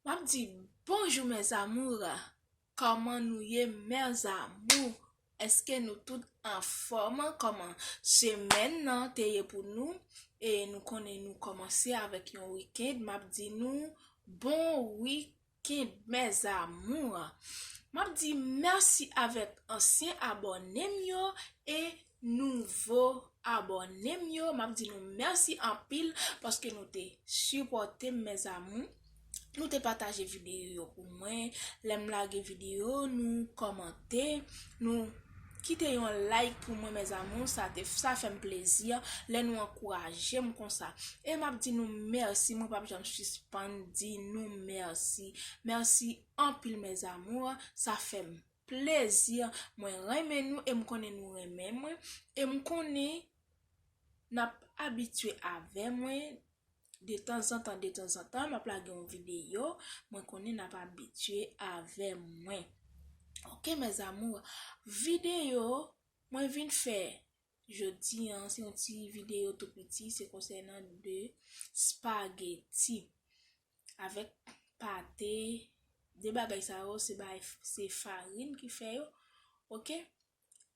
Map di bonjou mes amours Koman nou ye mes amours Eske nou tout anfom Koman semen nan te ye pou nou E nou konnen nou komanse avek yon weekend Map di nou bon weekend mes amours Map di merci avek ansyen abonem yo E nouvo abònem yo map di nou mèsi anpil paske nou te sipòtem mes amours nou te pataje videyo yo pou mwen lèm lage videyo nou kòmante nou kite yon like pou mwen mes amours sa fèm plezi lè nou ankourajem konsa e map di nou mèsi mwen pap janm sispann di nou mèsi mèsi anpil mes amours sa fèm Plaisir mwen renmen nou e m konnen nou renmen mwen e m konnen nap abitye avè mwen detanzantan detanzantan map lage yon video mwen konnen nap abitye avè mwen ok mes amours video mwen vin fè jodi an se yon ti video tou piti se konsènan de spaghetti avèk pate de bagay sa yo se bay se farine ki fè yo ok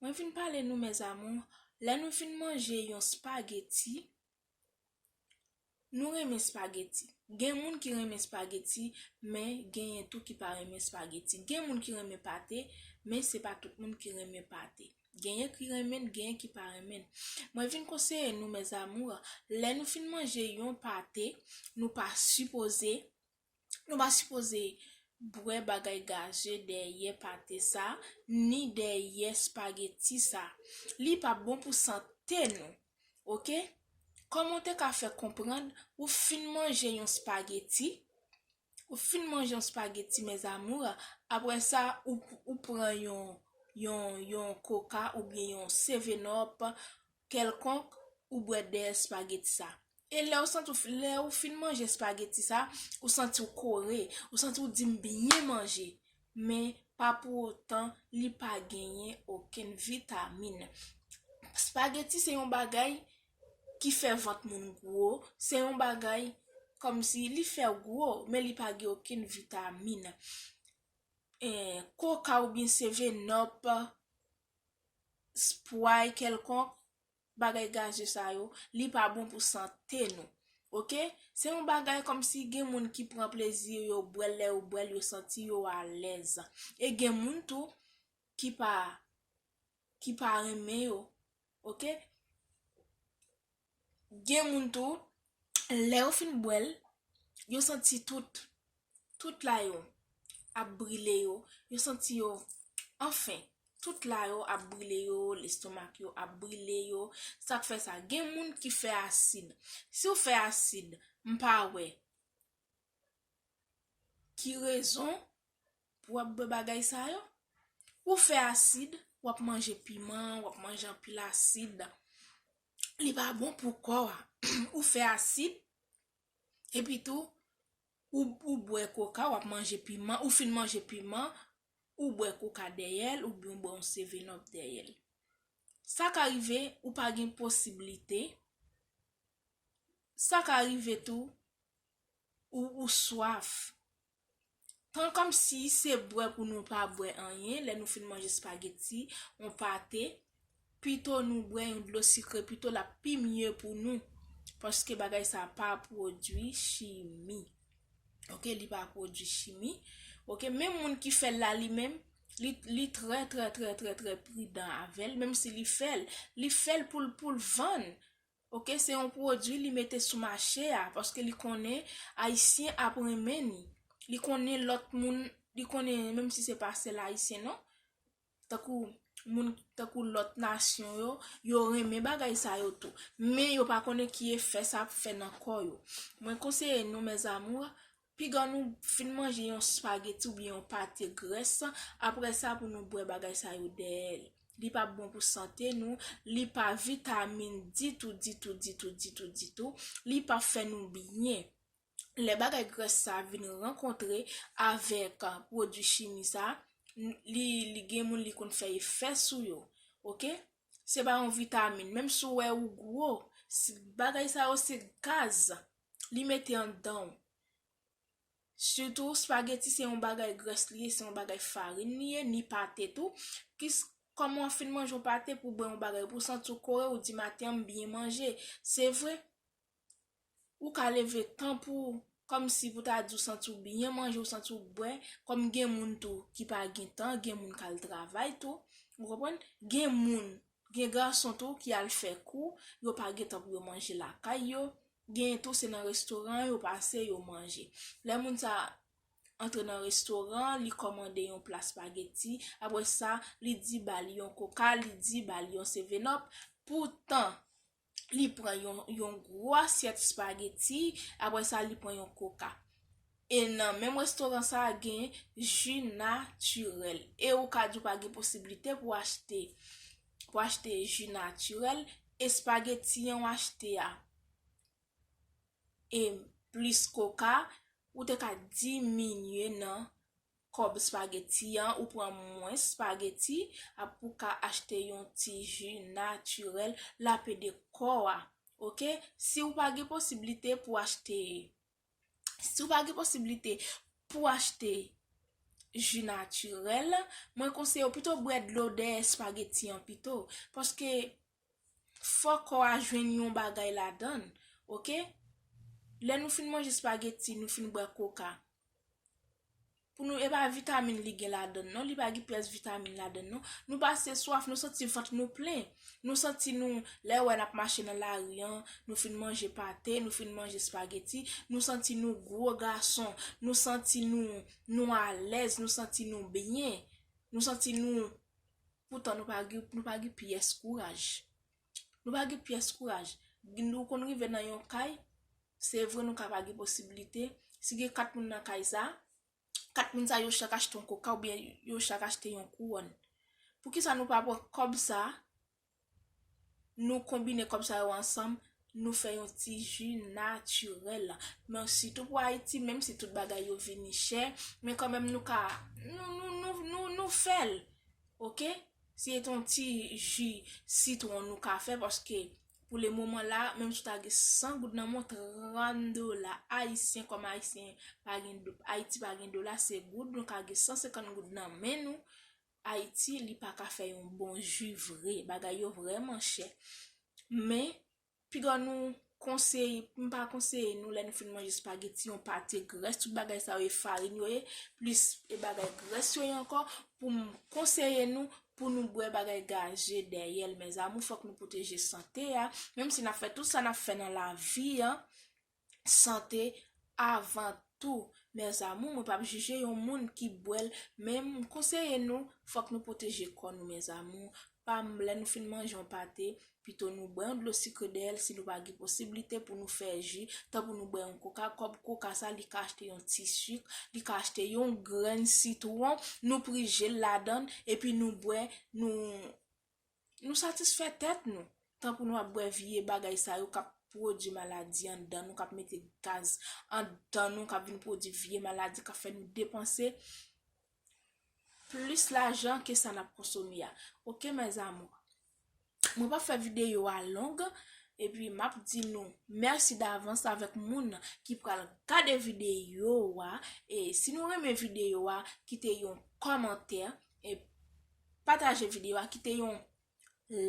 mwen vin pale nou mes amours lè nou fin manje yon spaghetti nou renmen spaghetti gen moun ki renmen spaghetti men genyen tou ki pa renmen spaghetti gen moun ki renmen pate men se pa tout moun ki renmen pate. Genyen ki renmenn genyen ki pa renmenn. Mwen vin konseye nou mes amours lè nou fin manje yon pate nou pa sipoze nou pa sipoze bwè bagay gaze dèyè pate sa ni dèyè spageti sa li pap bon pou sante nou ok kòman ou te ka fè konprann ou fin manje yon spageti Ou fin manje yon spaghetti mes amours, aprè sa ou pran yon yon coca oubyen yon seven up kèlkonk ou bwè dèyè spaghetti sa. E lèw santi w fin lè ou fin manje spaghetti sa ou santi w kore, ou santi w di m byen manje men pa pou otan li pa genyen okenn vitamin. Spaghetti se yon bagay ki fè vant moun gwo se yon bagay kòmsi li fèw gwo men li pa gen okenn vitamin koka oubyen sevenòp spray kèlkonk bagay gaze sa yo li pa bon pou sante nou ok se yon bagay kòmsi gen moun ki pran plezi yo bwèl lè yo bwèl yo santi yo alèz e gen moun tou ki pa ki pa renmen yo ok gen moun tou lè yo fin bwèl yo santi tout tout la yo ap brile yo yo santi yo anfen tout la yo ap brile yo lestomak yo ap brile yo sak fè sa gen moun ki fè asid si ou fè asid m pa wè ki rezon pou wap bwe bagay sa yo ou fè asid wap manje piman wap manje anpil asid li pa bon pou kò a ou fè asid epi tou ou bwe koka wap manje piman ou fin manje piman ou bwe koka dèyèl ou bwe yon seven up dèyèl sa ka rive ou pa gen posibilite sa ka rive tou ou swaf. Pran kòmsi se bwè pou nou pa bwè anyen lè nou fin manje spageti, yon pate, pito nou bwè yon dlo sikre pito l ap pi mye pou nou paske bagay sa pa pwodui chimi ok li pa pwodui chimi ok menm moun ki fè l la li menm li trè trè trè trè pridan avè l menm si li fè l li fè l pou l pou l vann Ok se yon pwodwi li mete sou mache a paske li konnen ayisyen ap renmen ni li konnen lòt moun li konnen menm si se pa sèl ayisyen non tankou moun tankou lòt nasyon yo yo renmen bagay sa yo tou men yo pa konnen ki efè sa ap fè nan kò yo mwen konseye nou mes amours Piga nou fin manje yon spageti oubyen yon pate grès, aprè sa pou nou bwè bagay sa yo dèyè l. Li pa bon pou sante nou, li pa vitamin ditou, ditou, ditou, ditou, ditou, li pa fè nou byen. Lè bagay grès sa vin rankontre avèk pwodui chimi sa, li gen moun li konn fè efè sou yo. Ok, se pa yon vitamin, menm si w wè ou gwo, bagay sa yo se gaz. li mete anndanw sitou spageti se yon bagay grès li ye se yon bagay farin li ye ni pate tou kis kòman wap fin manje yon pate pou bwè yon bagay pou santi w kore ou di maten an m byen manje se vre ou ka leve tan pou kòmsi pou ta di w santi w byen manje ou santi w bwè kòm gen moun tou ki pa gen tan gen moun kal travay tou ou konprann gen moun Gen gason tou ki al fè kou, yo pa gen tan pou yo manje lakay yo, genyen tou se nan restoran yo pase yo manje. Lè moun sa antre nan restoran, li kòmande yon pla spageti, apre sa li di ba li yon koka, li di ba li yon sevenòp, poutan li pran yon gwo asyèt spageti, apre sa li pran yon koka. E nan menm restoran sa a gen ji natirèl. E ou ka di ou pa gen posibilite pou achte, pou achte ji natirèl, e spageti an ou achte a, e plis koka, ou te ka diminye nan kòb spaghetti an ou pran mwens spaghetti a pou ka achte yon ti ju naturel lap ede kò a ok si ou pa gen posiblite pou achte si ou pa gen posiblite pou achte ju naturel mwen konseye ou pito bwè dlo dèyè spaghetti an pito paske fò kò a jwenn yon bagay ladann ok lè nou fin manje spaghetti nou fin bwè coca. Pou nou e pa vitamin li gen ladann non, li pa gen pyès vitamin ladann non. Nou pase swaf, nou santi vant nou plen. Nou santi nou, lè ou wè nap mache nan lari an, nou fin manje pate, nou fin manje spageti, nou santi nou gwo gason, nou santi nou, nou alèz, nou santi nou byen, nou santi nou, poutan nou pa gen, nou pa gen pyès kouraj. Nou pa gen pyès kouraj. Nou konn rive nan yon kay, se vre nou ka pa gen posibilite, si gen 4 moun nan kay sa, 4 moun sa yo chak achte yon koka oubyen yo chak achte yon kouwòn. Poukisa nou pa pran kòb sa, nou konbine kòb sa yo ansanm, nou fè yon ti ji natirèl. Men sitou pou Ayiti, menm si tout bagay yo vini chè, men kanmenm nou ka, nou fèl. Ok? Se t yon ti ji sitwon nou ka fè paske pou le moman la menm si w ta gen 100 goud nan men w 30 dola ayisyen kòm ayisyen pa gen ayiti pa gen dola se goud nou ka gen 150 goud nan men nou ayiti li pa ka fè yon bon ji vre bagay yo vrèman chè men Piga nou konseye, m pa konseye nou lè nou fin manje spageti yon pate grès, tout bagay sa yo e farin yo ye, plis e bagay grès yo ye ankò, pou m konseye nou pou nou bwè bagay gaze dèyè l mèzamou, fòk nou pwoteje sante a, menm si n ap fè tout sa n ap fè nan lavi an. sante avan tou mes amour mwen pap jije yon moun ki bwèl men m konseye nou fòk nou pwoteje kò nou mes amour pam lè nou fin manje yon pate pito nou bwè yon dlo sikre dèyèl si nou pa gen posiblite pou nou fè ji tan pou nou bwè yon koka kòb koka sa li ka achte yon ti sik li ka achte yon grenn sitwon nou prijel ladann epi nou bwè nou Nou satisfè tèt nou, tan pou nou ap bwè vye bagay sa yo kap pwodwi maladi anndan nou, kap mete gaz anndan nou, kap vin pwodwi vye maladi, kap fè nou depanse plis lajan ke sa nap konsome a. Ok mes amours, mwen pap fè videyo a long, epi map di nou mèsi davans avèk moun ki pral gade videyo a, e si nou renmen videyo a, kite yon kòmantè, e pataje video a kite yon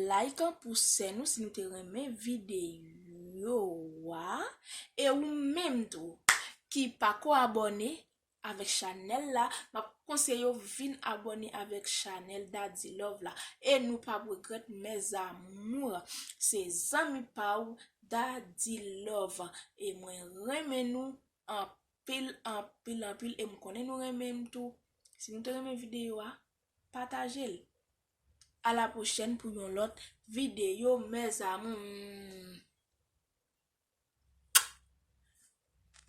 like pou sè nou si nou te renmen video a e ou menm tou ki pako abone avek chanel la map konseye ou vin abone avek chanel dadilove la e nou pap regret mes amour se zanmi pa ou dadilove e mwen renmen nou anpil. anpil anpil anpil e m konnen nou renmen m tou si nou te renmen video a pataje l a la pwochèn pou yon lòt video mes amours.